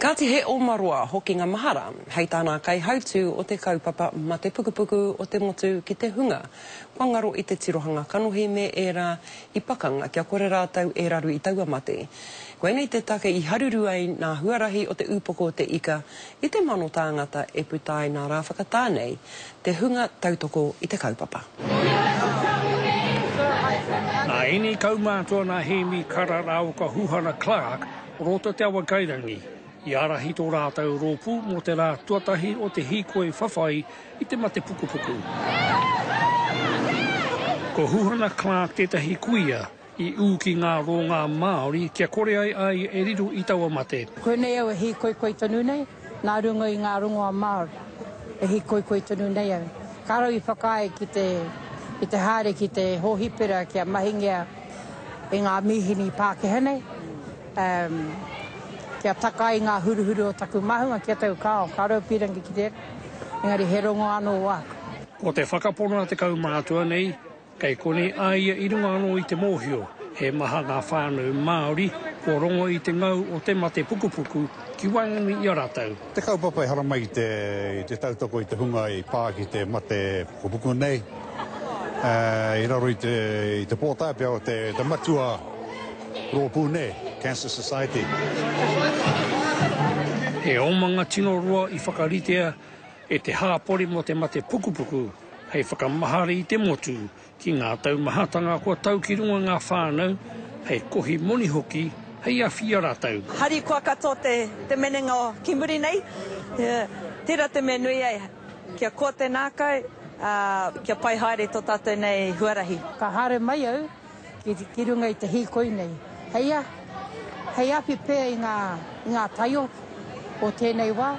Kāti he oma roa hokinga mahara hei tā nā kaihautū o te kaupapa Mate Pukupuku o te Motu ki te hunga kua ngaro i te tirohanga kanohi me ērā i pakanga kia kore rātou e raru i taua mate. Koinei te take i haruru ai nā huarahi o te Upoko o te Ika i te mano tāngata e puta ai nā rā whakatā nei te hunga tautoko i te kaupapa. Nā ēnei kaumātua nā Hēmi Kararaoka Huhana Clark o roto Te Awakairangi i ārahi tō rātou rōpū mō te rā tuatahi o te hīkoi whawhai i te mate pukupuku. Ko Huhana Clark tētahi kuia I ū ki ngā rōngā Māori kia kore ai a ia e riro i taua mate. Koinei au e hīkoikoi tonu nei, nā runga i ngā rongoa Māori e hīkoikoi tonu nei au. Ka rawe i whakaae ki te, ki te haere ki te hōhipera kia mahingia e ngā mīhini Pākehā nei, umm, kia taka ai ngā huruhuru o taku māhunga ki a taku kāo. Ka rawe pīrangi ki tērā, engari he rongoa anō wāku. Ko te whakapono a te kaumātua nei, Kei konei a ia i runga anō i te mōhio he maha ngā whānau Māori kua rongo i te ngau o te mate pukupuku ki waenganui i a rātou. Te kaupapa e haramai i te tautoko i te hunga i pā ki te mate pukupuku nei i raro i te pōtae pea o te matua rōpū nei, Cancer Society. He omanga tino roa i whakaritea E te hāpori mō te mate pukupuku hei whakamahara i te motu ki ngā taumahatanga kua tau ki runga ngā whānau hei kohi moni hoki hei awhi i a rātou. Harikoa katoa te te menenga o ki muri nei tera te mea nui ai kia koa te nākau a kia pai haere to tatou nei huarahi. Ka haere mai au. ki runga i te hīkoi nei, hei a, hei awhi pea i ngā, i ngā taio o tēnei wā,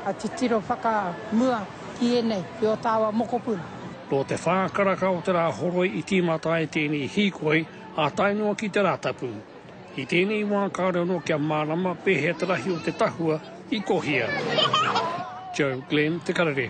a titiro whakamua ki ēnei, ki ō tāua mokopuna. Nō te whā karaka o te rā horoi i tīmata ai tēnei hīkoi, ā tae noa ki te Rātapu. I tēnei wā kāore anō kia mārama pēhea te rahi o te tahua i kohia. Joe Glenn, Te Karere.